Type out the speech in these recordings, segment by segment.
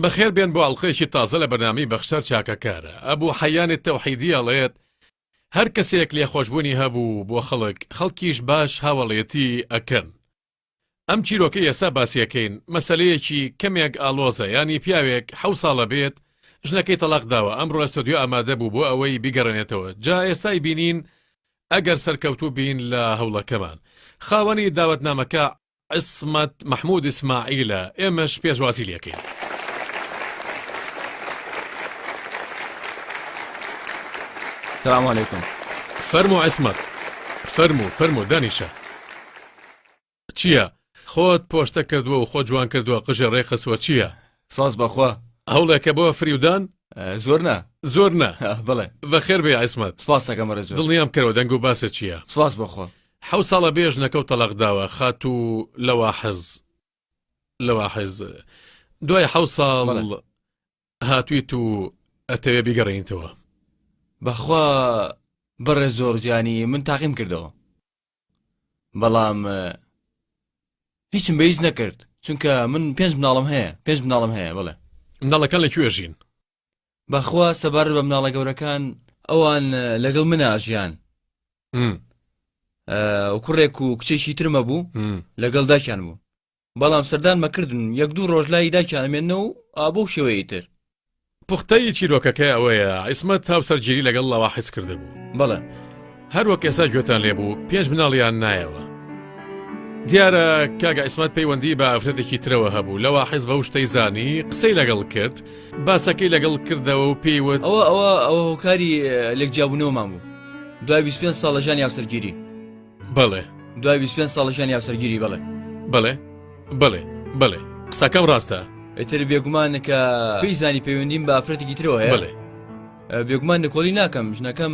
بەخێر بێن بۆ ئەڵلقەیەکی تازە لە بەنامی بەخشەر چاکەکارە ئەبوو حەیانێت تەوحیدی ئەڵێت هەر کەسێک لێخۆشببوونی هەبوو بۆ خەڵک خەڵکیش باش هاوەڵێتی ئەکەن ئەم چیرۆکەی ئێستا باسیەکەین مەسەلەیەکی کەمێک ئاڵۆزە یانی پیاوێک حەو ساڵە بێت ژنەکەی تەڵاق داوە ئەمڕۆ ئەستۆدیۆ ئامادە بوو بۆ ئەوەی بیگەڕێنێتەوە جا ئێستای بینین ئەگەر سەرکەوتوو بین لە هەوڵەکەمان خاوەنی داوەتنامەکە عیسمەت مەحمود ئیسماعیلە ئێمەش پێشوازی لەکەین. سلام علیکم فەرمو عیسمەت فەرمو فەرمو دانیشە چیە خۆت پۆشتە کردوە و خۆ جوان کردوە قژێ ڕێ خستوە چیە ساز بەخوا هەوڵێکە بۆ فریودان زۆر نا زۆر نا بڵێ بەخێر بێ عیسمەت سپاسەکە مەرە زۆر دڵنیام کەەوە دەنگ و باسە چییە سپاس بەخۆ حو ساڵە بێژ نەکەوت تەلاق داوە خات و لەوە حەز لەوە حەز دوای حو ساڵ هاتویت و ئەتەوێ بیگەڕێنیتەوە بەخوا بەڕێ زۆر جانی من تاقیم کردەوە بەڵام هیچم بە هیچ نەکرد چونکە من پێنج مناڵم هەیە پێنج مناڵم هەیە بڵێ مناڵەکان لە کوێ ژین بەخوا سەبارەت بە مناڵە گەورەکان ئەوان لەگەڵ مناژیان کوڕێک و کچێکی ترمە بوو لەگەڵ داکیان بوو بەڵام سەردان مەکردن و یەک دوو ڕۆژ لای داکیان ئەمێننەوە و ئا بەو شێوەیەی تر. پوختەیی چیرۆکەکە ئەوەیە عیسمەت هاوسەرگیری لەگەڵ لاواحس کردبوو. بەڵێ. هەر وەک ئێستا گوێتان لێ بوو پێنج مناڵیان نایەوە. دیارە کاک عیسمەت پەیوەندی بە ئافرەتێکی ترەوە هەبوو لاواحس بەو شتەی زانی قسەی لەگەڵ کرد باسەکەی لەگەڵ کردەوە و پێیوت ئەوە ئەوە ئەوە هۆکاری لێک جیابوونەوەمان بوو دوای 25 ساڵ لە ژانی هاوسەرگیری. بەڵێ دوای 25 ساڵە ژیانی هاوسەرگیری بەڵێ بەڵێ بەڵێ بەڵێ قسەکەم ڕاستە ئیتر بێگومانە کە پێی زانی پەیوەندیم بە ئافرەتێکی ترەوە هەیە بەڵێ بێگومان نکۆڵی ناکەم ژنەکەم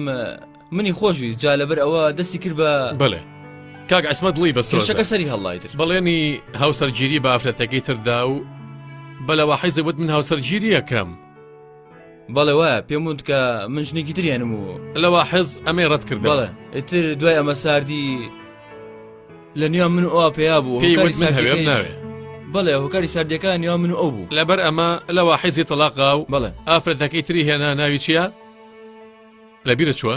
منی خۆشوی جا لەبەر ئەوە دەستی کرد بە بەڵێ کاک ئەسمە دڵی بەسەکە سەری هەڵایتر بەڵێنی هاوسەرگیری بە ئافرەتەکەی تردا و بەلەوە حیزەوت من هاوسەرگیریەکەم بەڵێ وایە پێم وت کە من ژنێکی تریانم و لەوا حەز ئەمەی ڕەت کرد بەڵێ ئیتر دوای ئەمە ساردی لە نیا من ئەو پێیا بوو بەڵێ هۆکاری ساردەکان نیا من ئەو بوو لەبەر ئەمە لەوا حەزی تەلاقا و بەڵێ ئافرەتەکەی تری هێنا ناوی چییە؟ لەبیرە چووە؟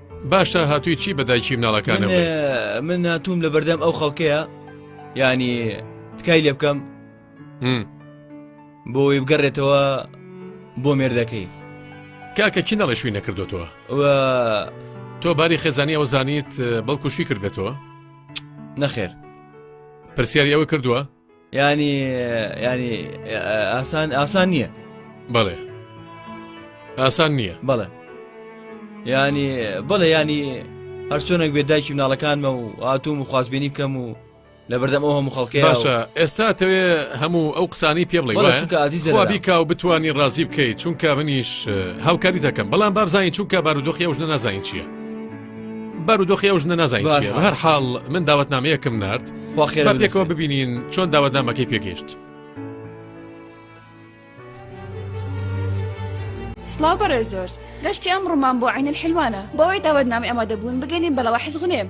باشە هاتووی چی بە دایکی مناڵەکانم من هاتووم لە بەردەم ئەو خەڵکەیە ینی تکای لێ بکەم بۆی بگەڕێتەوە بۆ مێردەکەی کاکە کی نەڵێ شووی نەکردوتەوە تۆ باری خێزانی ئەوە زانیت بەڵکو شوی کردێتەوە نەخێر پرسیاری ئەوە کردووە ینی ینی ئاسان ئاسان نییە بەڵێ ئاسان نییە بەڵێ ینی بڵێ ینی هەرچۆنێک بێ دایکی مناڵەکانمە و ئاتوم و خوازبێنی بکەم و لە بەردەم ئەو هەموو خەڵکی باشە ئێستا تەوێ هەموو ئەو قسانی پێ بڵێ ئازیزبیکا و بتانی ڕازی بکەیت چونکە منیش هاوکاری دەکەم بەڵام بابزانین چونکە بارودۆخی ئەوژنە نازانین چییە بارودۆخی ئەو ژنە نازانین چییە. بە هەر حاڵ من داوەتنامەیەکم نارد با خێرا با پێکەوە بنووسێ. ببینین چۆن داوەتنامەکەی پێگەیشت سڵاو بەڕێز زۆر گەشتی ئەم ڕوومان بۆ عین الحلوانە بۆ ئەوەی داوەتنامی ئامادەبوون بگەنین بە ڵەوحی زغنێم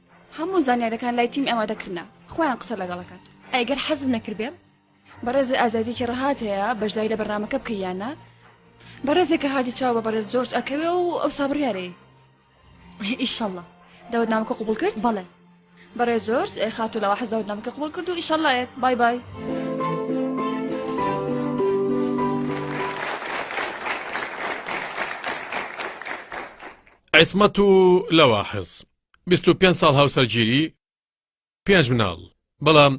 هەموو زانیارەکان لای تیم ئامادە کرنە خۆیان قسە لەگەڵەکات ئەگەر حەزم نەکردێ بەڕێز ئازادیکی ڕەهات هەیە بەشداری لە بەرنامەکە بکەیانە بەڕێزێکە هاتی چاو بە بەڕێز جۆرج ئەکەوێ و ئەو سابڕیارەی ئیشەڵە دەوت نامەکە قوبول کرد بەڵێ بەڕێ جۆرج خاتو لەوە حەز دەوت نامەکە قوبول کرد و ئیشەڵایەت بای بای. عیسمەت و لەواحز بیست و پێنج ساڵ هاوسەرگیری پێنج مناڵ بەڵام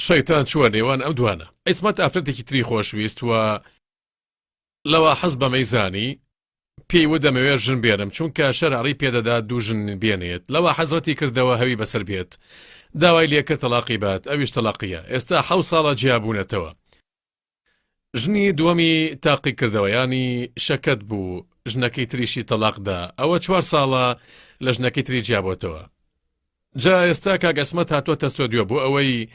شەیتان چووە نێوان ئەم دوانە عیسمەت ئافرەتێکی تری خۆشویست و لەوە حەز بەمەی زانی پێی و دەمەوێت ژن بێنم چونکە شەرعڕی پێدەدا دوو ژن بێنێت لەوە حەزرەتی کردەوە هەوی بەسەر بێت داوای لێکرد تەلاقی بات ئەویش تەلاقیە ئێستا حە ساڵە جیابوونەتەوە ژنی دووەمی تاقیکردەوەیانی شەکەت بوو ژنەکەی تریشی تەلاق دا ئەوە چوار ساڵە لە ژنەکەی تری جیابۆتەوە جا ئێستا کاک ئەسمەت هاتووە تەستۆ دوێ بۆ ئەوەی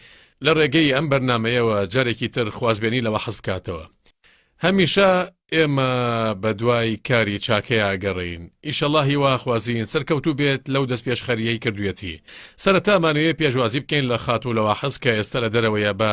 لە ڕێگەی ئەم بەرنمەیەوە جارێکی تر خوازبێنی لەوە حەز بکاتەوە هەمیشە ئێمە بە دوای کاری چاکەیە ئەگەڕین ئیشەڵا هیواخوازیین سەرکەوتو بێت لەو دەست پێشخەریەی کردوێتی سەرتامانەیە پێشوازی بکەین لە خاتوو لەوە حەز کە ئێستا لە دەرەوەیە بە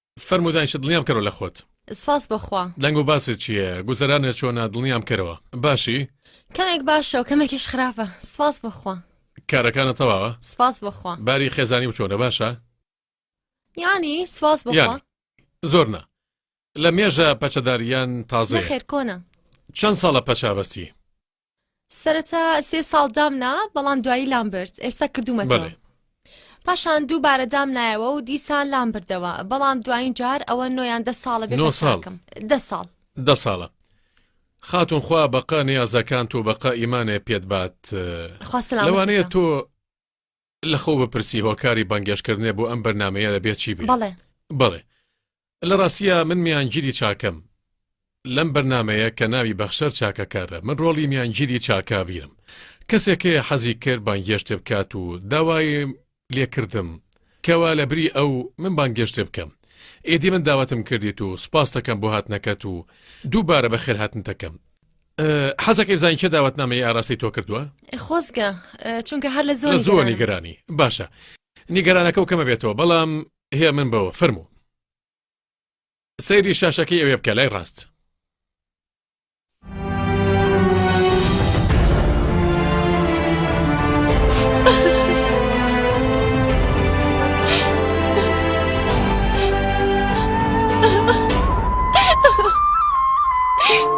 فەرموو دانیشە دڵنیام کەرەوە لە خۆت. سپاس بۆ خوا. دەنگ و باست چییە؟ گوزەرانت چۆنە؟ دڵنیام کەرەوە. باشی؟ کەمێک باشە و کەمێکیش خراپە. سپاس بۆ خوا. کارەکانت تەواوە؟ سپاس بۆ خوا. باری خێزانی و چۆنە؟ باشە؟ یانی سپاس بۆ خوا. زۆر نا. لە مێژە پەچەدار یان تازەیە؟ نەخێر کۆنە. چەند ساڵە پەچە ئەبەستی؟ سەرەتا سێ ساڵ دامنا بەڵام دوایی لام برد ئێستا کردومەتەوە پاشان دوو بارە دام نایەوە و دیسان لام بردەوە بەڵام دوایین جار ئەوە نۆیان دە ساڵە بێ ساڵکەم دە ساڵ دە ساڵە خاتون خوا بەقا نیازەکان تۆ بەقا ئیمانێ پێت بات لەوانەیە تۆ لەخۆو بپرسی هۆکاری بانگێشکردنێ بۆ ئەم بەرنامەیە دەبێت چی بێ بەڵێ بەڵێ لە ڕاستیە من میانگیری چاکەم لەم بەرنمەیە کە ناوی بەخشەر چاکەکارە من ڕۆڵی میانگیری چاکاویرم کەسێکەیە حەزی کرد بانگێشتێ بکات و داوای لێکردم کەوا لە بری ئەو من بانگێشتێ بکەم ئێدی من داوەتم کردیت و سپاستەکەم بۆ هاتنەکەت و دووبارە بە خێرهاتنتەکەم حەزەکەی بزانین چێ داوەتنامەی ئاراستەی تۆ کردووە خۆزگە چونکە هەر لە زۆر زۆر نیگەرانی باشە نیگەرانەکە و کەمە بێتەوە بەڵام هەیە من بەوە فەرموو سەیری شاشەکەی ئەوێ بکە لای ڕاست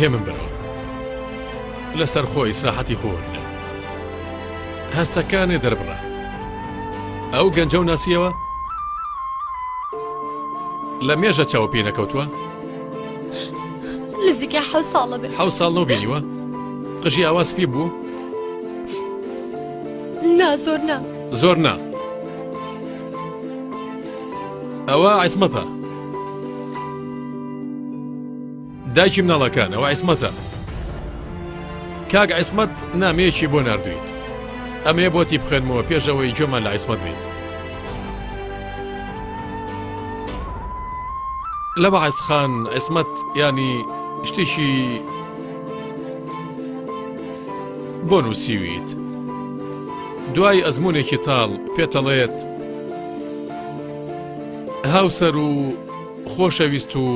هێمن برام لەسەر خۆ ئیسراحەتی خۆ وەرگرە هەستەکانێ دەربڕە ئەو گەنجە و ناسیەوە لە مێژە چاو پێ نەکەوتووە نزیکە حە ساڵە بێ حە ساڵ نەو بینیوە قژی ئاواز پێ بوو نا زۆر نا زۆر نا ئەوە عیسمەتە دایکی مناڵەکان ئەوە عیسمەتە کاک عیسمەت نامەیەکی بۆ نردویت ئەمێ بۆتی بخێنمەوە پێشەوەی جۆمان لە عیسمەت بیت لە بەعسخان عیسمەت ینی شتێکی بۆ نووسیویت دوای ئەزمونێکی تاڵ پێتەڵێت هاوسەر و خۆشەویست و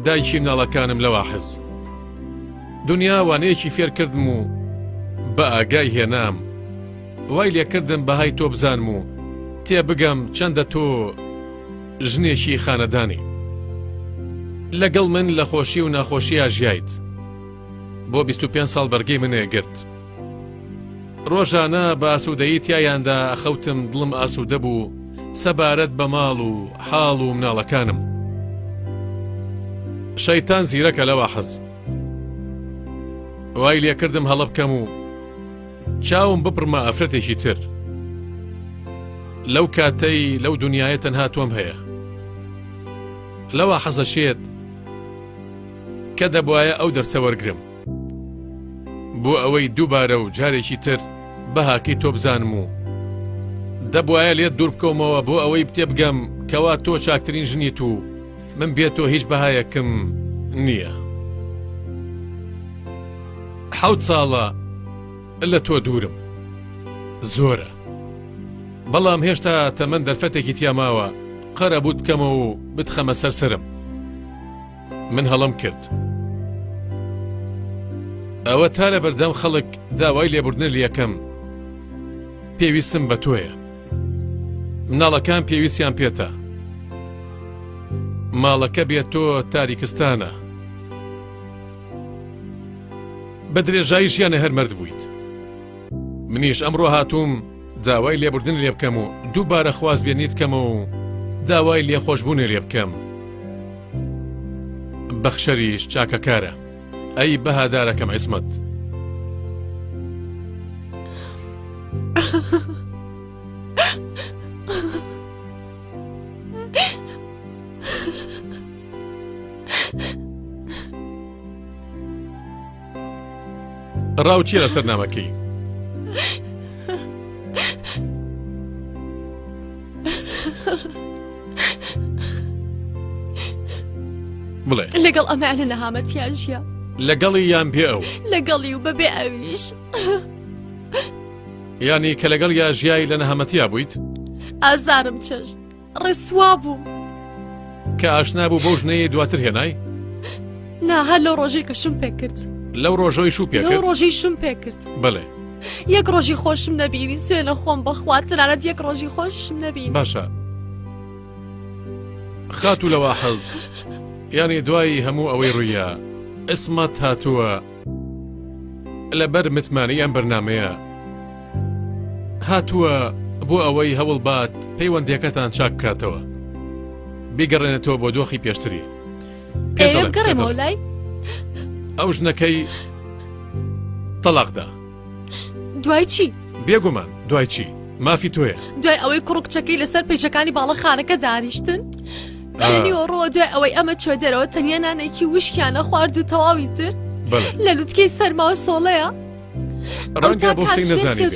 دایکی مناڵەکانم لەوە حەز دنیا وانەیەکی فێر کردم و بە ئاگای هێنام وای لێکردم بەهای تۆ بزانم و تێ بگەم چەندە تۆ ژنێکی خانەدانی لەگەڵ من لە خۆشی و ناخۆشییا ژیایت بۆ 25 ساڵ بەرگەی منێ گرت ڕۆژانە بە ئاسوودەیی تیایاندا ئەخەوتم دڵم ئاسوودە بوو سەبارەت بە ماڵ و حاڵ و مناڵەکانم شەیتان زیرەکە لەوە حەز وای لێکردم هەڵە بکەم و چاوم بپڕمە ئافرەتێکی تر لەو کاتەی لەو دنیاە تەنها تۆم هەیە لەوە حەزەشێت کە دەبواە ئەو دەرسە وەرگرم بۆ ئەوەی دووبارە و جارێکی تر بەهاکەی تۆ بزانم و دەبواە لێت دوور بکەومەوە بۆ ئەوەی پتێ بگەم کەوا تۆ چاکترین ژنیت و من بێت تۆ هیچ بەهایەکم نییە حەوت ساڵە لە تۆ دوورم زۆرە بەڵام هێشتا تەمەەن دەرفەتێکی تیاماوە قەرە بوت بکەمەوە و بتخەمە سەرسرم من هەڵم کرد ئەوە تا لە بەردەم خەڵک داوای لێبوردنر یەکەم پێویستم بە تۆیە مناڵەکان پێویستیان پێتە ماڵەکە بێت تۆ تاریکستانە بە درێژایی ژیانە هەرمەرد بوویت منیش ئەمڕۆ هاتووم داوای لێبوردن لێ بکەم و دووبارە خواست بێنیت بکەمەوە و داوای لێ خۆشببوونێ لێ بکەم بەخشەریش چاکەکارە ئەی بەهادارەکەم عیسمەت ڕاو چیە لەسەر نامەکەی بڵێ لەگەڵ ئەمە لە نەهامەتیان ژیە لەگەڵی یان پێ ئەو لەگەڵی و بەبێ ئەویش ینی کە لەگەڵ یا ژیایی لە نەهامەتیا بوویت ئازارم چشت ڕسوا بووم کە ئاشنا بوو بەو ژنەیە دواتر هێنای نا هەر لەو ڕۆژەی کە شم پێکرد لەو ڕۆژۆی شو پێ لەو ڕۆژەی شم پێکرد بڵێ یەک ڕۆژی خۆشم نەبیری سوێنە خۆم بەخوا تەنانەت یەک ڕۆژی خۆشم نەبی باشە خاتوو لەوە حەز یانی دوایی هەموو ئەوەی ڕوویە ئەسمەت هاتووە لەبەر متمانەی ئەم بەرنامەیە هاتووە بۆ ئەوەی هەوڵبات پەیوەندیەکەتان چاک بکاتەوە بیگەڕێنێتەوە بۆ دۆخی پێشتری ئەو ژنەکەی تەلاقدا دوای چی؟ بێگومان دوای چی؟ مافی تۆیە دوای ئەوەی کوڕ کچەکەی لەسەر پێچەکانی باڵەخانەکە دانیشتن نیوەڕۆ دوای ئەوەی ئەمە چۆ دەرەوە تەنیا نانێکی وشکیانە خوارد و تەواوی تر لە لوتکەی سەرماوە سۆڵەیە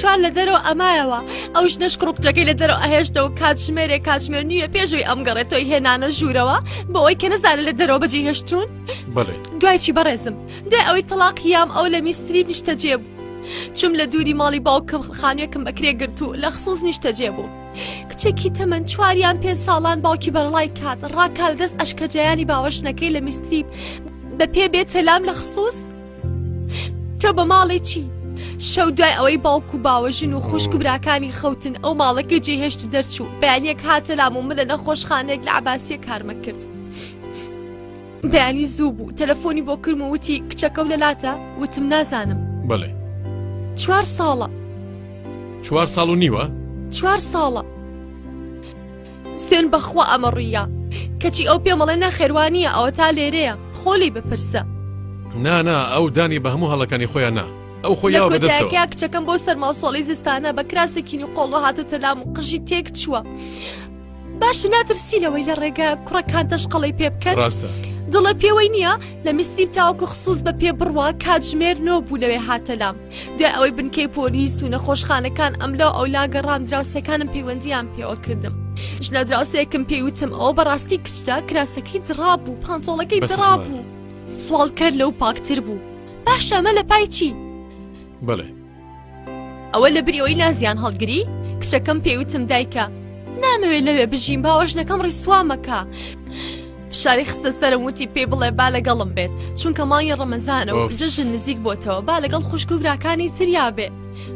چوار لە دەرەوە ئەمایەوە ئەو ژنەش کڕکجەکەی لە دەرەوە ئەهێشتەوە کاتژمێرێ کاتژمێر نیوە پێشوی ئەم گەڕێتەوەی هێنانە ژوورەوە بۆ ئەوی کە نەزانە لە دەرەوە بەجێ هێشتون دوای چی بەڕێزم دوای ئەوەی تەڵاقی یام ئەو لە میستری نیشتەجێ بوو چوم لە دووری ماڵی باوکم خانوێکم بەکرێ گرت و لە خصوص نیشتەجێ بوو کچێکی تەمەەن چواریان پێ ساڵان باوکی بەرڵای کات ڕاکال دەست ئەشکەجیانی باوەشنەکەی لە میستری بە پێ بێ تەلام لە خصوص تۆ بە ماڵی چی شەو دوای ئەوەی باوک و باوەژن و خوشک و براکانی خەوتن ئەو ماڵەکە جێهێشت و دەرچوو بەیانیەک هاتە لام و من لە نەخۆشخانێک لە عباسیە کارمە کرد. بەیانی زوو بوو تەلەفۆنی بۆ کرم و وتی کچەکە و لەلاتە وتم نازانم بڵێ چوار ساڵە چوار ساڵ و نیوە چوار ساڵە سوێن بەخوا ئەمە ڕوویە کەچی ئەو پێمەڵێ نەخێوانیە ئەوە تا لێرەیە خۆلی بپرسە نانا ئەو دانی بە هەموو هەڵەکانی خۆیان نا ئەو خۆی بەدەستەکە کچەکەم بۆ سەرماسۆڵی زستانە بە کراسێکین و قۆڵۆ هاتو تەلام و قژی تێک چووە باشە ناترسی لەوەی لە ڕێگە کوڕەکان تەشقەڵی پێ بکەن ڕاستە دڵە پێوەی نییە لە میسریم تاوەکو خصوص بە پێ بڕوا کاتژمێر نۆ بوو لەوێ هاتەلام دوای ئەوەی بنکەی پۆلیس و نەخۆشخانەکان ئەم لەو ئەو لاگەڕام دراوسەکانم پەیوەندیان پێوە کردم ژنە دراوسەیەکم پێیوتم ئەوە بەڕاستی کچدا کراسەکەی دڕا بوو پانتۆڵەکەی دڕا بوو سوالکەر لەو پاکتر بوو باشەمە لە پای چی؟ بڵێ ئەوە لە بری ئەوەی لازیان هەڵگری کچەکەم پێوتم دایکە نامەوێت لەوێ بژین باوەژنەکەم ڕیسوامەکە فشاری خستە سەرم وتی پێ بڵێ با لەگەڵم بێت چونکە مانگی ڕەمەزانە و جەژن نزیک بۆتەوە با لەگەڵ خوشک و براکانی سریا بێ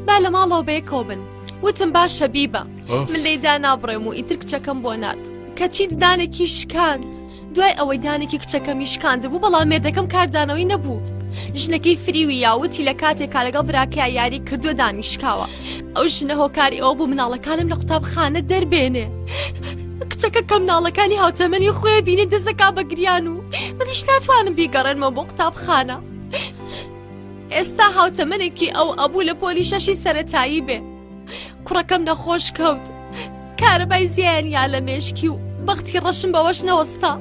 با لە ماڵەوە بەیەکەوە بن وتم با شەبیبە من لێدا نابڕێم و ئیتر کچەکەم بۆ نرد کەچی ددانێکی شکاند. دوای ئەوەی دانێکی کچەکەمی شکاندبوو بەڵام مێردەکەم کاردانەوەی نەبوو ژنەکەی فریوی یاوتی لە کاتێکا لەگەڵ براکەیا یاری کردو دانی شکاوە ئەو ژنە هۆکاری ئەوە بوو مناڵەکانم لە قوتابخانە دەربێنێ کچەکە کەم ناڵەکانی هاوتەمەنی خۆێ بینێ دەزەکا بە گریان و منیش ناتوانم بیگەڕێنمە بۆ قوتابخانە ئێستا هاوتەمەنێکی ئەو ئەبوو لە پۆلی شەشی سەتایی بێ کوڕەکەم نەخۆش کەوت کارەبای زیانیا لە مێشکی و بەختی ڕەشم بەوەش نەوەستا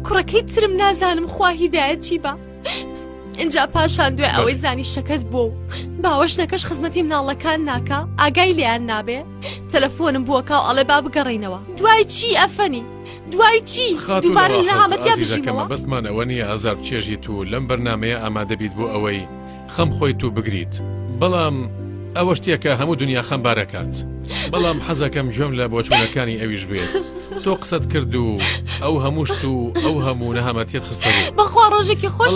کوڕەکەی ترم نازانم خوا هیدایەتی بە اینجا پاشان دوێ ئەوەی زانی شەکەت بۆ و باوەشنەکەش خزمەتی مناڵەکان ناکە ئاگای لیان نابێ تەلەفۆنم بووەکە و ئەڵێ با بگەڕینەوە دوای چی ئەفەنی دوای چی دووبارە لە هامەتیا بژیمەوە بەستمانەوە نیە ئازار چێژیت و لەم بەرنمەیە ئامادەبیت بۆ ئەوەی خەم خۆی تو بگریت بەڵام ئەوە شتێکە هەموو دنیا خەمبارەکات بەڵام حەزەکەم گوێم لە بۆچوونەکانی ئەویش بێت تۆ قسەت کرد و ئەو هەمووشت و ئەو هەموو نەهامەتیت خستە بەخوا ڕۆژێکی خۆش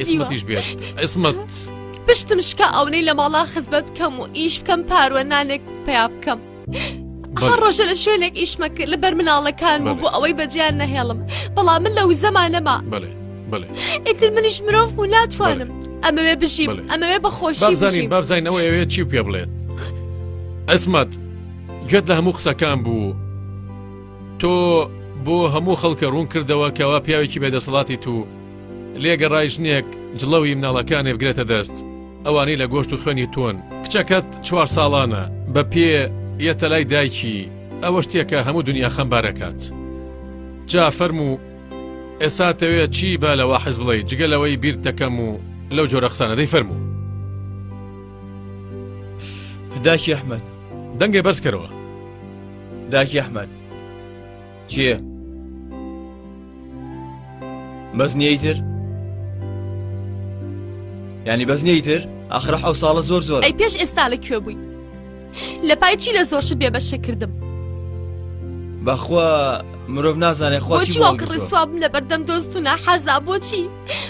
ئیسمەتیش بێت ئیسمەت پشتم شکا ئەونەی لە ماڵا خزمەت بکەم و ئیش بکەم پاروە نانێک پیا بکەم هەر ڕۆژە لە شوێنێک ئیشمە کرد لەبەر مناڵەکان بوو بۆ ئەوەی بەجیان نەهێڵم بەڵام من لە وزەمانەما بڵێ بڵێ ئیتر منیش مرۆڤ و ناتوانم ئەمەوێ بژیم ئەمەوێ بەخۆشی بزانین بابزانینەوە ئەوێ چی پێ بڵێت ئەسمەت گوێت لە هەموو قسەکان بوو تۆ بۆ هەموو خەڵکە ڕوون کردەوە کەوا پیاوێکی بێدەسەڵاتی تو لێ گەڕای ژنێک جڵەوی مناڵەکانێ بگرێتە دەست ئەوانەی لە گۆشت و خوێنی تۆن کچەکەت چوار ساڵانە بە پێ یەتە لای دایکی ئەوە شتێکە هەموو دنیا خەمبارەکات جا فەرمو ئێستا تەوێت چی با لەوە حەز بڵێ جگە لەوەی بیر دەکەم و لەو جۆرە قسانە دەی فەرمو داکی ئەحمد دەنگێ بەرزکەرەوە داکی ئەحمد چیە؟ بەس نیەیتر؟ ینی بەس نیەیتر ئاخرە حەو ساڵە زۆر زۆر ئەی پێش ئێستا لە کوێ بووی لە پای چی لە زۆر شت بێ بەشە کردم بەخوا مرۆڤ نازانێت خۆچی واڵکە ڕسوابم لە بەردەم دۆستونە حەزا بۆچی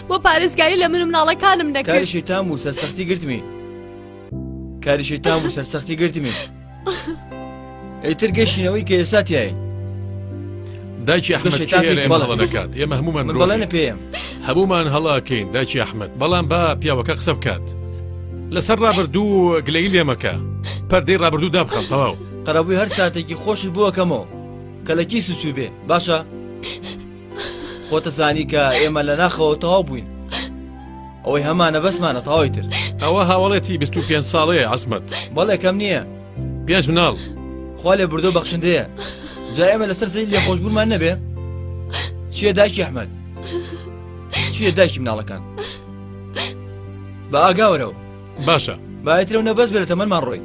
بۆ پارێزگاری لە من و مناڵەکانم نەکاری شیتان و سەرسەختی گرتمی کاری شیتان و سەرسەختی گرتمی ئەیتر گەشتینەوەی کە ئێستا تایە داکی ئەحمەدەکات ئێمە هەمومان بڵێنە پێم هەمومان هەڵاکەین داکی ئەحمد بەڵام با پیاوەکە قسە بکات لەسەر ڕابردوو گلەی لێمەکە پەردەی ڕابردوو دابخەم تەواو قەرەبووی هەر ساتێکی خۆشی بووەکەمەوە کە لە کیسی چوو بێ باشە خۆتە زانی کە ئێمە لە ناخەوە تەواو بووین ئەوەی هەمانە بەسمانە تاوای تر ئەوە هاوڵێتی 25 ساڵەیە عزمەت بەڵێکەم نییە پێش مناڵ خوا لێ بردو بەخشندەیە جا ئێمە لەسەر زەی لێ خۆشببوومان نەبێ چیە داکی ئەحمد چیە داکی مناڵەکان بە ئاگاورەوە باشە بایترەو نەبەز بێت تەمەمان ڕۆی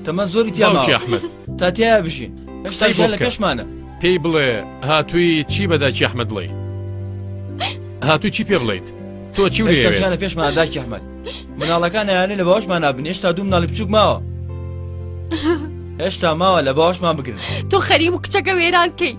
تەمەەن زۆری تیامەحمد تاتیا بژین هەشتا لە کەشمانە پێی بڵێ هاتووی چی بەداکی ئەحمد بڵێ هاتوو چی پێ بڵیت تۆ چی شانە پێشمان داکی ئەحمد مناڵەکان یانە لە باوەشمان نابن هێشتا دوو مناڵی بچوک ماوە هێشتا ماوە لە باوەشمان بگرن تۆ خەری و کچەکە وێران کەیت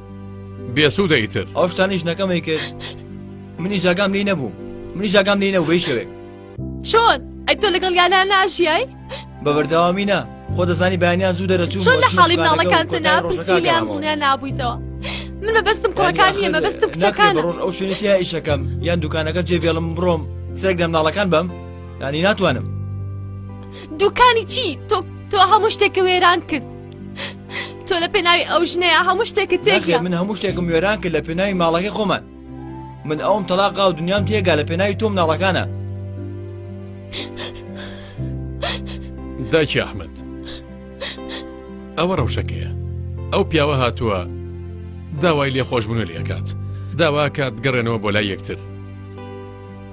بێسوودە ئیتر ئەو شتانیش نەکەمەی کرد منی جاگام لی نەبوو منی جاگام لی نەبوو بەی شەوێک چۆن ئەی تۆ لەگەڵ یانا ناژیای بە بەردەوامی نا خۆ دەزانی بەیانیان زوو دەرەچوو چۆن لە حاڵی مناڵەکان تەنا پرسیلیان دڵنیا نابوویتەوە من مەبەستم کوڕەکان نیە مەبەستم کچەکان ڕۆژ ئەو شوێنێتی ئیشەکەم یان دوکانەکە جێبێڵم بڕۆم سێک لە مناڵەکان بم ینی ناتوانم دوکانی چی تۆ تۆ هەموو شتێکە وێران کرد تۆ لە پێناوی ئەو ژنەیە هەموو شتێکت تێ من هەموو شتێکم وێران کرد لە پێناوی ماڵەکەی خۆمان من ئەوم تەلاقا و دنیام تێگا لە پێناوی تۆم ناڵەکانە داکی ئەحمد ئەوە ڕەوشەکەیە ئەو پیاوە هاتووە داوای لێ خۆشببوون لەکات داواکات گەڕێنەوە بۆ لای یەکتر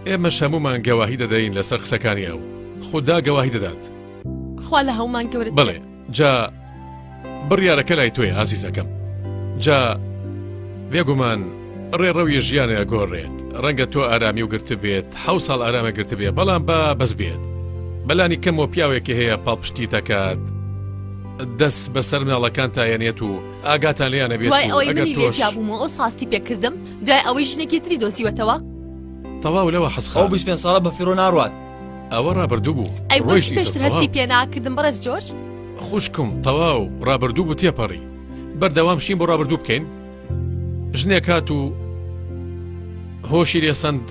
ئێمە شەمومان گەواهی دەدەین لەسەر قسەکانی ئەو خوددا گەواهی دەدات خوا لە هەومان گەورە بڵێ جا بڕیارەکە لای تۆی ئازیزەکەم جا بێگومان ڕێڕەوی ژیانە گۆڕێت ڕەنگە تۆ ئارامی و گرت بێت حو ساڵ ئارامە گرت بێ بەڵام بە بەس بێت بەلانی کەم و پیاوێکی هەیە پاڵپشتی دەکات دەست بەسەر مناڵەکان تایەنێت و ئاگاتان لیانە بێت دوای ئەوەی منی لێجابووم ئەو ساستی پێکردم دوای ئەوەی ژنێکی تری دۆزیوەتەوە تەواو لەوە حەسخەو بش پێ ساڵە بە فیرۆ ناڕات ئەوە ڕابردوو بوو ئەیڕۆژ پێشتر هەستی پێناکردم بەڕێز جۆرج خوشکم تەواو ڕابردوو بوو تێپەڕی بەردەوام شین بۆ ڕابردوو بکەین ژنێک هات و هۆشی لێسەند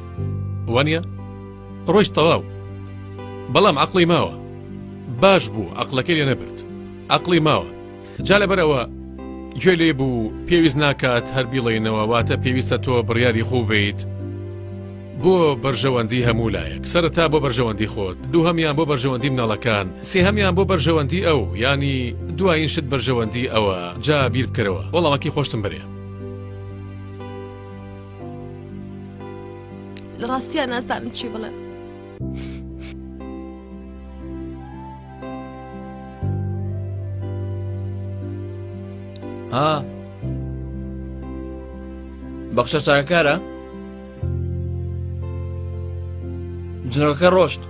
وانە ڕۆژ تەواو بەڵام عقلی ماوە باش بوو عقلەکەی لێ نەبرد عقلی ماوە جا لەبەر ئەوە گوێ لێ بوو پێویست ناکات هەر بیڵێینەوە واتە پێویستە تۆ بڕیاری خوو بیت بۆ بەرژەوەندی هەموو لایەک سەرتا بۆ بەرژەوەندی خۆت دوو هەمیان بۆ بەرژەوەندی مناڵەکان سێ هەمیان بۆ بەرژەوەندی ئەو ینی دوایین شت بەرژەوەندی ئەوە جا بیر بکەرەوە وەڵامەکی خۆشتم بەرێ ڕاستیان نازانم چی بڵێ. ها بەخشە چاکارە جنەکە ڕۆشت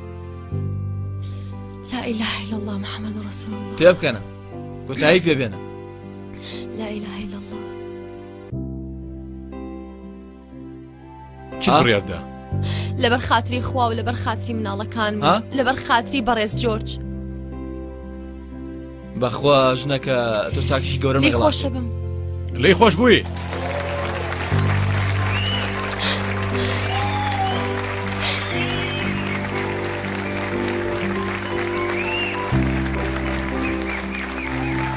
لا إله إلا الله محمد رسول الله پێ بکەنە کوتایی پێ بێنە لا إله إلا الله چ بڕیاردا لەبەر خاتری خوا و لەبەر خاتری مناڵەکان لەبەر خاتری بەڕێز جۆرج بەخوا ژنەکە تۆ چاکیش گەورە خۆشە بم لی خۆش بووی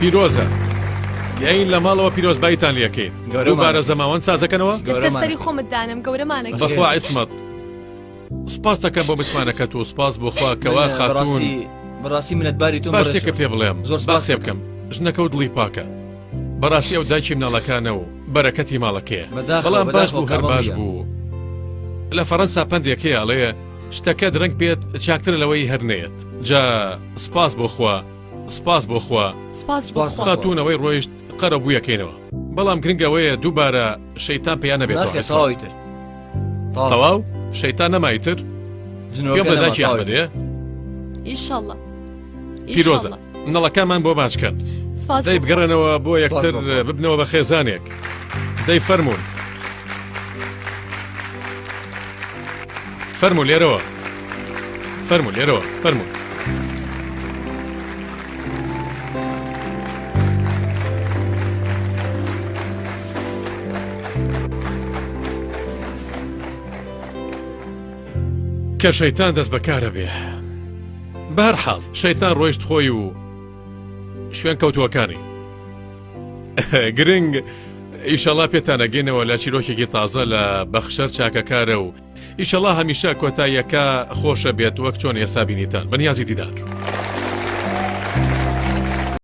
پیرۆزە یاین لە ماڵەوە پیرۆزبایتان لەکەین گەورەبارە زەماوەند سازەکەنەوە گەورەمانی خۆمت دانم گەورەمانە بەخوا عسمەت سپاس دەکەم بۆ متمانەکەت و سپاس بۆخوا کەوا خاتونی بەڕاستی منەتباری تۆ باشێکە پێ بڵێم زۆر سپاسێ بکەم ژنەکە و دڵی پاکە بەڕاستی ئەو داکی مناڵەکانە و بەرەکەتی ماڵەکەیە بەڵام باش بوو هەر باش بوو لە فەڕەنسا پندێکەیە ئەڵەیە شتەکە درەنگ بێت چاکتر لەوەی هەر نێت جا سپاس بۆخوا سپاس بۆخوا سپاس خاتونەوەی ڕۆیشت قەرە بوویەکەینەوە بەڵام گرنگەوەیە دووبارە شەیتان پێیان نەبێت تر تەواو شەیتان نەمای تر جنۆکەداکی ئەمەدێ ئیشله پیرۆزە منەڵەکانمان بۆ باچکەن دەی بگەڕێنەوە بۆ یەکتر ببنەوە بە خێزانێک دەی فەرمونون فەرمو لێرەوە فەرمو لێرەوە فەرمونون کە شەیتان دەست بەکارە بێ بەهەر حاڵ شەیتان ڕۆیشت خۆی و شوێن کەوتووەکانی گرنگ ئیشەڵا پێتانەگەینەوە لە چیرۆکێکی تازە لە بەخشەر چاکەکارە و ئیشەڵا هەمیشە کۆتاییەکە خۆشە بێت وەک چۆن ئێستا بینیتان بەنیازی دیدار.